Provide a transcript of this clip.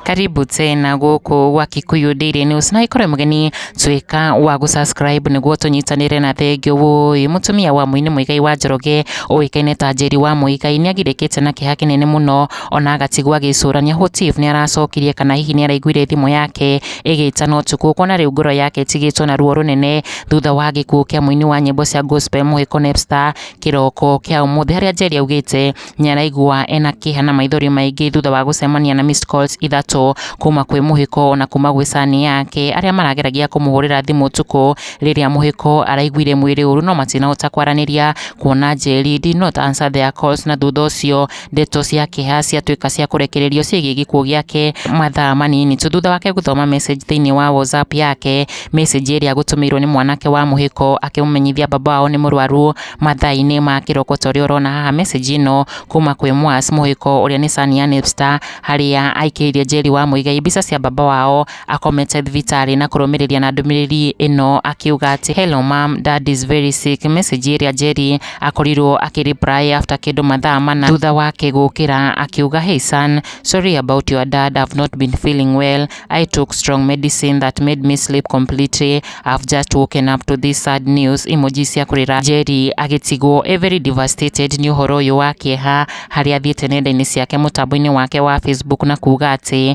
karibu tena gũkũ gwa Kikuyu Daily News na ikorwe mgeni twika wa gũsubscribe nĩguo tũnyitanĩre na thengio wũĩ mũtumia wa mũini Muigai wa Njoroge ũĩkaine ta Njeri wa Muigai nĩagirĩkĩte na kĩeha kĩnene mũno ona agatigwo agĩcũrania Hotif nĩaracokirie kana hihi nĩaraiguire thimũ yake ĩgĩtana ũtukũ kuona rĩu ngoro yake ĩtigĩtwo na ruo rũnene thutha wa gĩkuũ kĩa mũini wa nyĩmbo cia gospel Mũhĩko Nepstar kĩroko kĩa ũmũthĩ harĩa Njeri augĩte nĩaraigua ena kĩeha na maithori maingĩ thutha wa gũcemania na missed calls ithatũ kuma kwĩ Mũhĩko ona kuma gwĩ cani yake arĩa marageragia kũmũhũrĩra thimũ ũtukũ rĩrĩa Mũhĩko araiguire mwĩrĩ ũru no matinahota kwaranĩria kuona Njeri did not answer their calls na thutha ũcio Ndeto cia kĩeha ciatuĩka cia kũrekererio ciĩgiĩ gĩkuũ gĩake mathaa manini tu thutha wake gũthoma message thĩinĩ wa WhatsApp yake, message ĩrĩa agũtũmĩirwo nĩ mwanake wa mũhĩko akĩmũmenyithia baba wao nĩ mũrwaru mathaa-inĩ ma kĩroko ta ũrĩa ũrona haha message ĩno kuma kwĩ Mwas mũhĩko ũrĩa nĩ Sania Nipster harĩa aikĩirie Njeri wa Muigai mbica cia baba wao akomete thibitarĩ na kũrũmĩrĩria na ndũmĩrĩri ĩno akiuga atĩ hello mom dad is very sick message ĩrĩa Jerry akorirwo akĩ reply after kĩndũ mathaa mana thutha wake gũkĩra akiuga hey son sorry about your dad I've not been feeling well I took strong medicine that made me sleep completely I've just woken up to this sad news emoji cia kũrĩra Jerry agĩtigwo e very devastated nĩ ũhoro ũyũ wa kĩeha harĩa athiĩte nenda-inĩ ciake mũtambo-inĩ wake wa Facebook na kuga atĩ